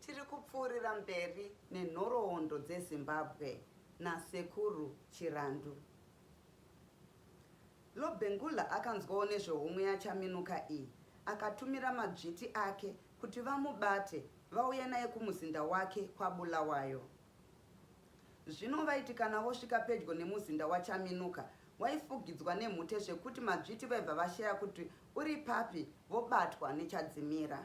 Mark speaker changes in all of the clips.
Speaker 1: Tiri kupfuurira mberi nenhoroondo dzeZimbabwe naSekuru Chirandu. Lobengula akanzwawo nezvehomwe yaChaminuka iyi akatumira madzviti ake kuti vamubate vauye naye kumuzinda wake kwaBulawayo. Zvino vaiti kana vosvika pedyo nemuzinda waChaminuka waifugidzwa nemhute zvekuti madzviti vaibva vashaya kuti uri papi vobatwa nechadzimira.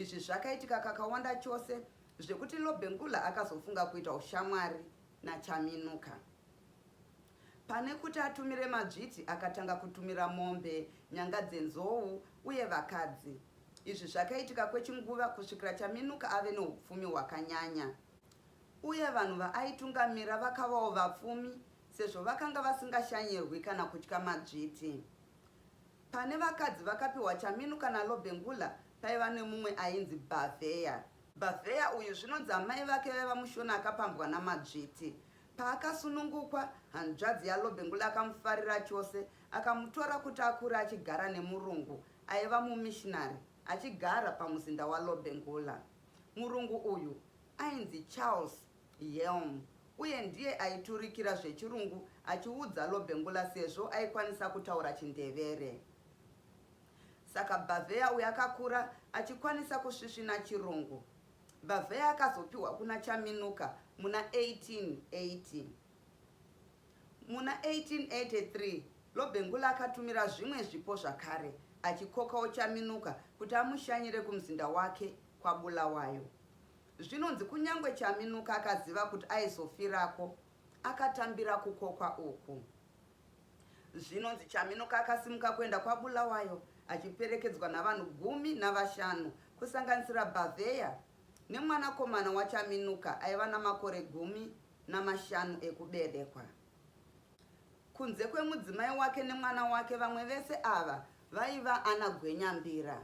Speaker 1: Izvi zvakaitika kakawanda chose zvekuti Lobengula akazofunga kuita ushamwari naChaminuka. Pane kuti atumire madzviti akatanga kutumira mombe, nyanga dzenzou uye vakadzi. Izvi zvakaitika kwechinguva kusvikira Chaminuka ave noupfumi hwakanyanya. Uye vanhu vaaitungamira vakavawo vapfumi sezvo vakanga vasingashanyirwi kana kutya madzviti. Pane vakadzi vakapiwa chaminu kana lobengula paiva nemumwe ainzi Bhavheya. Bhavheya uyu zvinonzi amai vake vaiva mushona akapambwa namadzviti. Paakasunungukwa, hanzvadzi yaLobengula akamufarira chose, akamutora kuti akure achigara nemurungu aiva mumishinari achigara pamuzinda waLobengula. Murungu uyu ainzi Charles Yelm uye ndiye aiturikira zvechirungu achiudza Lobengula sezvo aikwanisa kutaura chindevere. Saka Bhavheya uyu akakura achikwanisa kusvisvina chirungu. Bhavheya akazopiwa kuna Chaminuka muna 1880. Muna 1883 Lobengula akatumira zvimwe zvipo zvakare achikokawo Chaminuka kuti amushanyire kumuzinda wake kwaBulawayo. Zvinonzi kunyangwe Chaminuka akaziva kuti aizofirako, akatambira kukokwa uku. Zvinonzi Chaminuka akasimuka kuenda kwaBulawayo achiperekedzwa navanhu gumi navashanu kusanganisira Bhavheya nemwanakomana waChaminuka aiva namakore gumi namashanu ekuberekwa. Kunze kwemudzimai wake nemwana wake, vamwe vese ava vaiva ana gwenyambira.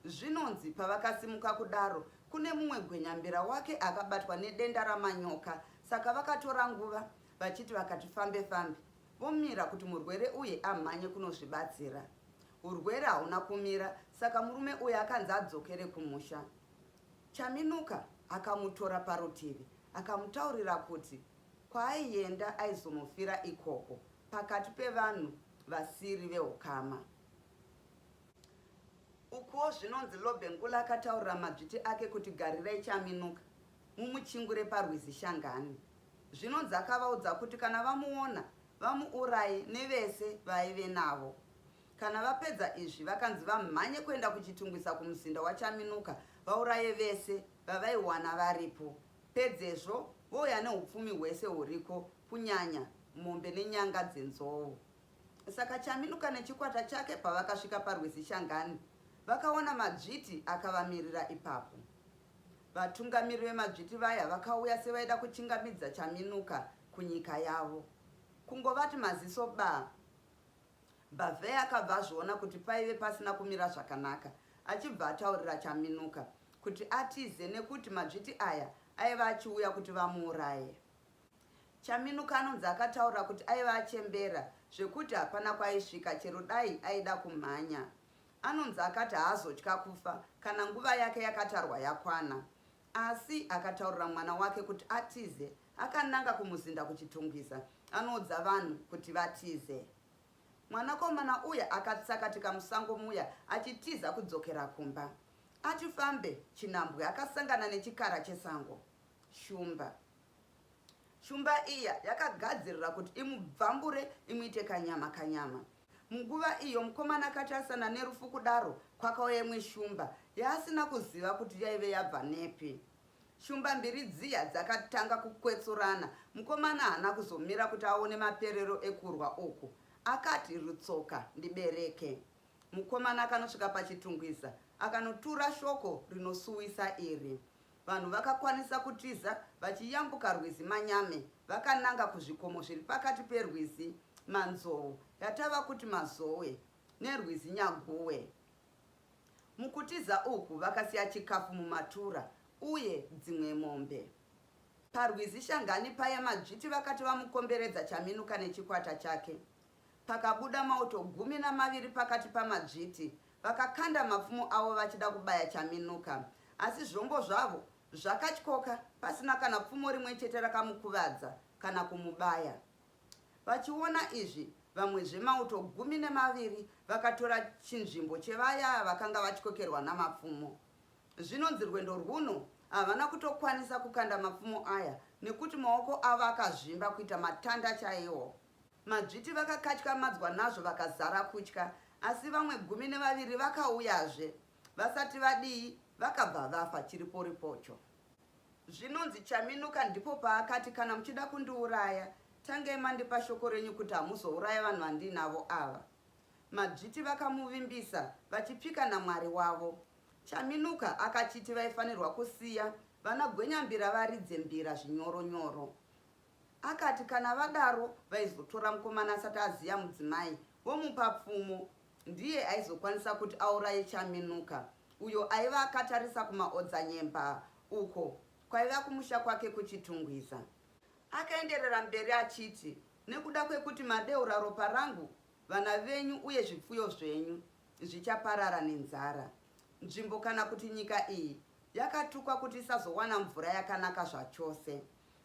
Speaker 1: Zvinonzi pavakasimuka kudaro, kune mumwe gwenyambira wake akabatwa nedenda ramanyoka saka vakatora nguva vachiti vakati fambe fambe vomira kuti murwere uye amhanye kunozvibatsira. Urwere hauna kumira saka murume uye akanzi adzokere kumusha. Chaminuka akamutora parutivi akamutaurira kuti kwaaienda aizomufira ikoko pakati pevanhu vasiri vehukama. Ukuwo zvinonzi Lobengula akataurira madzviti ake kuti Garirai Chaminuka mumuchingure parwizi Shangani. Zvinonzi akavaudza kuti kana vamuona vamuuraye nevese vaive navo. Kana vapedza izvi vakanzi vamhanye kuenda kuchitungwiza kumuzinda waChaminuka vauraye vese vavaiwana varipo. Pedzezvo vouya neupfumi hwese huriko kunyanya mombe nenyanga dzenzou. Saka Chaminuka nechikwata chake pavakasvika parwizi Shangani, vakaona madzviti akavamirira ipapo. Vatungamiri vemadzviti vaya vakauya sevaida kuchingamidza Chaminuka kunyika yavo. Kungovati maziso baa, Bhavheya akabva azviona kuti paive pasina kumira zvakanaka, achibva ataurira Chaminuka kuti atize nekuti madzviti aya aiva achiuya kuti vamuuraye. Chaminuka anonzi akataura kuti aiva achembera zvekuti hapana kwaaisvika chero dai aida kumhanya. Anonzi akati haazotya kufa kana nguva yake yakatarwa yakwana. Asi akataurira mwana wake kuti atize akananga kumuzinda kuChitungwiza anoudza vanhu kuti vatize. Mwanakomana uya akatsakatika musango muya achitiza kudzokera kumba. Achifambe, Chinambwe akasangana nechikara chesango, Shumba. Shumba iya yakagadzirira kuti imubvambure imuite kanyama kanyama. Munguva iyo mukomana akati asana nerufu kudaro kwakauya imwe shumba yaasina kuziva kuti yaive yabva nepi. Shumba mbiri dziya dzakatanga kukwetsurana. Mukomana haana kuzomira kuti aone maperero ekurwa uku. Akati rutsoka ndibereke. Mukomana akanosvika pachitungwiza akanotura shoko rinosuwisa iri. Vanhu vakakwanisa kutiza vachiyambuka rwizi Manyame vakananga kuzvikomo zviri pakati perwizi Manzou, yatava kuti Mazowe, nerwizi Nyaguwe. Mukutiza uku vakasiya chikafu mumatura uye dzimwe mombe. Parwizi Shangani paye Madzviti vakati vamukomberedza Chaminuka nechikwata chake pakabuda mauto gumi namaviri pakati pamadzviti vakakanda mapfumo avo vachida kubaya Chaminuka asi zvombo zvavo zvakatyoka pasina kana pfumo rimwe chete rakamukuvadza kana kumubaya. Vachiona izvi, vamwezve mauto gumi nemaviri vakatora chinzvimbo chevaya vakanga vatyokerwa namapfumo. Zvinonzi rwendo rwuno havana kutokwanisa kukanda mapfumo aya nekuti maoko avo akazvimba kuita matanda chaiwo. Madzviti vakakatyamadzwa nazvo vakazara kutya, asi vamwe gumi nevaviri vakauyazve. Vasati vadii, vakabva vafa chiriporipocho. Zvinonzi Chaminuka ndipo paakati kana muchida kundiuraya, tangai mandipa shoko renyu kuti hamuzouraya vanhu vandiinavo ava. Madzviti vakamuvimbisa, vachipika naMwari wavo. Chaminuka akachiti vaifanirwa kusiya vana Gwenyambira varidze mbira zvinyoro-nyoro. Akati kana vadaro vaizotora mukomana asati aziya mudzimai vomupa pfumo ndiye aizokwanisa kuti auraye Chaminuka uyo aiva akatarisa kumaodzanyemba uko kwaiva kumusha kwake kuChitungwiza. Akaenderera mberi achiti, Nekuda kwekuti madeura ropa rangu, vana venyu uye zvipfuyo zvenyu zvichaparara nenzara. Nzvimbo kana kuti nyika iyi yakatukwa kuti isazowana mvura yakanaka zvachose.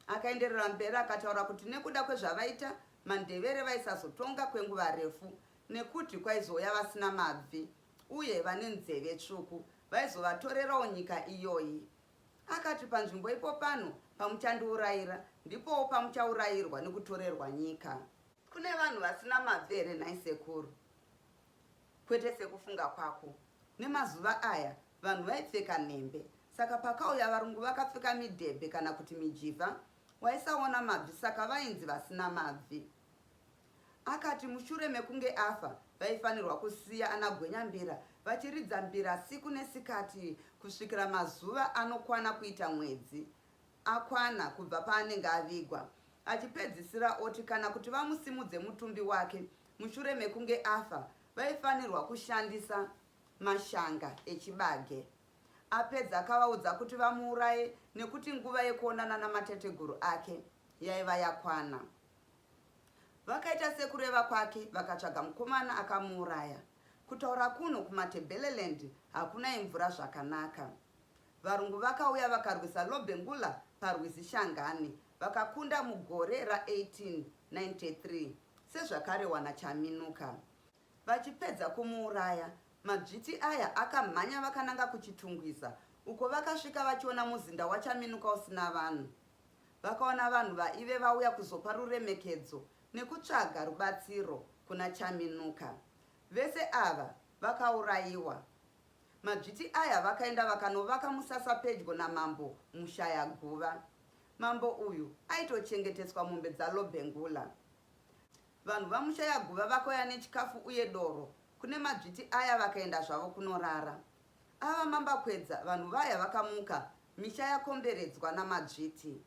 Speaker 1: Akaenderera mberi akataura kuti nekuda kwezvavaita, maNdevere vaisazotonga kwenguva refu nekuti kwaizouya vasina mabvi uye vane nzeve tsvuku vaizovatorerawo nyika iyoyi. Akati panzvimbo ipo pano pamuchandiurayira ndipowo pamuchaurayirwa nekutorerwa nyika. Kune vanhu vasina mabvi here nhai sekuru? Kwete sekufunga kwako. Nemazuva aya vanhu vaipfeka nhembe saka pakauya varungu vakapfeka midhebhe kana kuti mijivha waisaona mabvi saka vainzi vasina mabvi. Akati mushure mekunge afa vaifanirwa kusiya ana Gwenyambira vachiridza mbira siku nesikati kusvikira mazuva anokwana kuita mwedzi akwana kubva paanenge avigwa achipedzisira oti kana kuti vamusimudze mutumbi wake Mushure mekunge afa, vaifanirwa kushandisa mashanga echibage. Apedza akavaudza kuti vamuuraye nekuti nguva yekuonana namatateguru ake yaiva yakwana. Vakaita sekureva kwake vakatsvaga mukomana akamuuraya. Kutaura kuno kuMatebeleland hakuna imvura zvakanaka. Varungu vakauya vakarwisa Lobengula parwizi Shangani vakakunda mugore ra 1893 sezvakarewa na Chaminuka. Vachipedza kumuuraya, madzviti aya akamhanya vakananga ku Chitungwiza uko vakasvika vachiona muzinda wa Chaminuka usina vanhu. Vakaona vanhu vaive vauya kuzopa ruremekedzo nekutsvaga rubatsiro kuna Chaminuka. Vese ava vakauraiwa. Madzviti aya vakaenda vakanovaka musasa pedyo namambo Mushayaguva. Mambo uyu aitochengeteswa mombe dzaLobengula. Vanhu vaMushayaguva vakauya nechikafu uye doro kune madzviti aya vakaenda zvavo kunorara. Ava mambakwedza vanhu vaya vakamuka misha yakomberedzwa namadzviti.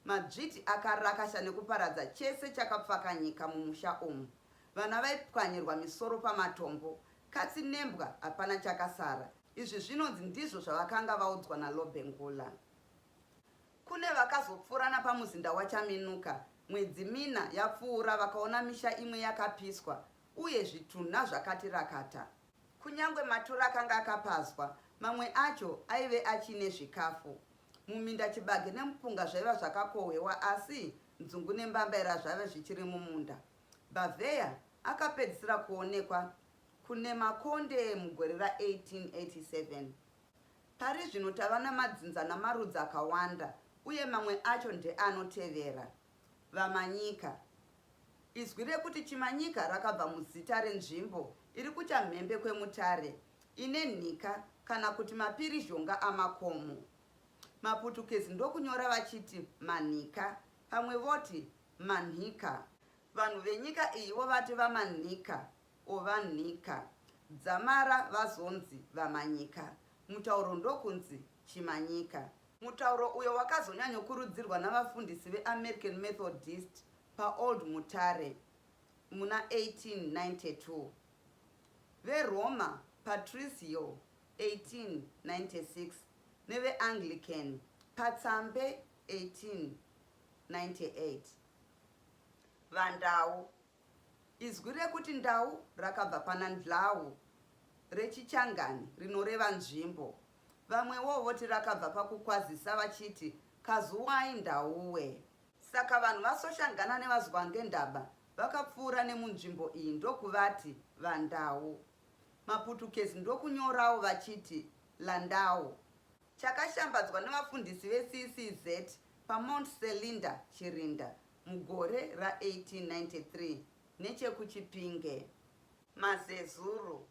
Speaker 1: Madzviti akarakasha nekuparadza chese chakapfakanyika mumusha umu. Vana vaipwanyirwa misoro pamatombo, katsi nembwa hapana chakasara. Izvi zvinonzi ndizvo zvavakanga vaudzwa naLobengula. Kune vakazopfuura napamuzinda waChaminuka mwedzi mina yapfuura vakaona misha imwe yakapiswa uye zvitunha zvakati rakata. Kunyangwe matura akanga akapazwa, mamwe acho aive achiine zvikafu. Muminda chibage nemupunga zvaiva zvakakohwewa asi nzungu nembambaira zvaiva zvichiri mumunda. Bavheya akapedzisira kuonekwa kuNemakonde mugore ra 1887. Pari zvino tava namadzinza namarudzi akawanda uye mamwe acho ndeanotevera, Vamanyika. Izwi rekuti Chimanyika rakabva muzita renzvimbo iri kuchamhembe kweMutare ine nhika kana kuti mapirizhonga amakomo. Maputukezi ndokunyora vachiti Manhika, pamwe voti Manhika. Vanhu venyika iyi vovati vamanhika or vanhika. Dzamara vazonzi vamanyika. Mutauro ndokunzi chimanyika. Mutauro uyo wakazonyanyokurudzirwa navafundisi veAmerican Methodist paOld Mutare muna 1892, veRoma Patricio 1896 neveAnglican paTsambe 18 1998 vandau izwi rekuti ndau rakabva pana ndlau rechichangani rinoreva nzvimbo vamwewo voti rakabva pakukwazisa vachiti kazuwai ndauwe saka vanhu vasoshangana nevazwangendaba vakapfuura nemunzvimbo iyi ndokuvati vandau maputukezi ndokunyorawo vachiti landau chakashambadzwa nevafundisi veCCZ paMount Selinda, Chirinda, mugore ra1893 nechekuChipinge. Mazezuru.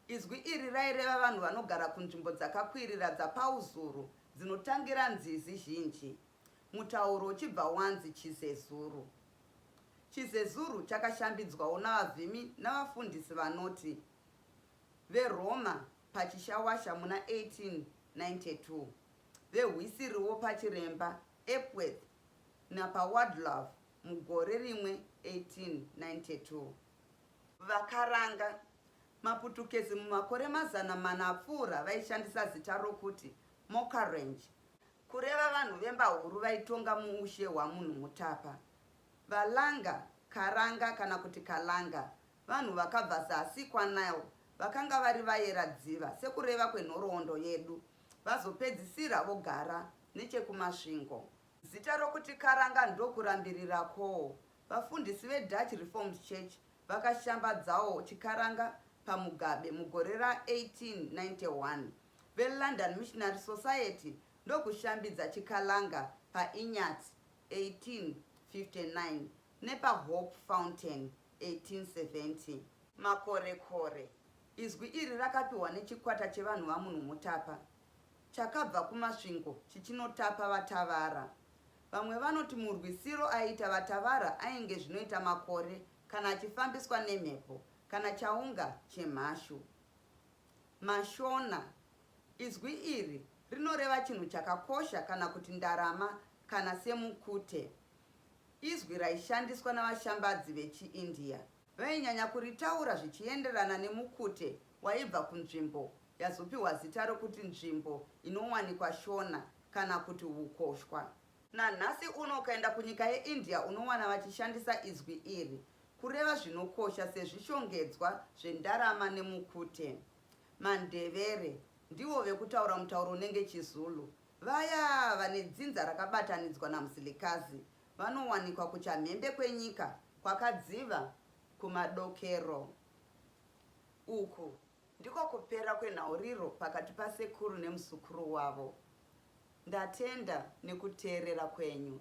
Speaker 1: Izwi iri raireva vanhu vanogara kunzvimbo dzakakwirira dzapauzuru dzinotangira nzizi zhinji. Mutauro uchibva wanzi Chizezuru. Chizezuru chakashambidzwawo navavhimi navafundisi vanoti. veRoma paChishawasha muna 1892, vehwisiriwo paChiremba, Epworth, napaWadlove mugore rimwe 1892. Vakaranga, maPutukezi mumakore mazana mana apfuura vaishandisa zita rokuti Mokarenje, kureva vanhu vembahuru vaitonga muushe hwaMunhumutapa. Valanga, Karanga kana kuti Kalanga, Vanhu vakabva zasi kwaNile vakanga vari vayera dziva, sekureva kwenhoroondo yedu, vazopedzisira vogara nechekuMasvingo. Zita rokuti karanga ndokurambirira kwo vafundisi veDutch Reformed Church vakashambadzawo chiKaranga paMugabe mugore ra 1891. VeLondon Missionary Society ndokushambidza chiKalanga paInyati 1859. nepaHope Fountain 1870. Makorekore, izwi iri rakapiwa nechikwata chevanhu vaMunhumutapa chakabva kuMasvingo chichinotapa vaTavara. Vamwe vanoti murwisiro aiita vaTavara ainge zvinoita makore kana achifambiswa nemhepo kana chaunga chemhashu. Mashona, izwi iri rinoreva chinhu chakakosha kana kuti ndarama kana semukute. Izwi raishandiswa navashambadzi vechiIndia vainyanya kuritaura zvichienderana nemukute waibva kunzvimbo yazopiwa zita rokuti nzvimbo inowanikwa Shona kana kuti hukoshwa. Nanhasi uno ukaenda kunyika yeIndia unowana vachishandisa izwi iri kureva zvinokosha sezvishongedzwa zvendarama nemukute. MaNdevere ndivo vekutaura mutauro unenge chiZulu Vaya vane dzinza rakabatanidzwa naMusilikazi vanowanikwa kuchamhembe kwenyika kwakadziva kumadokero. Uku ndiko kupera kwenhauriro pakati pasekuru nemuzukuru wavo. Ndatenda nekuteerera kwenyu.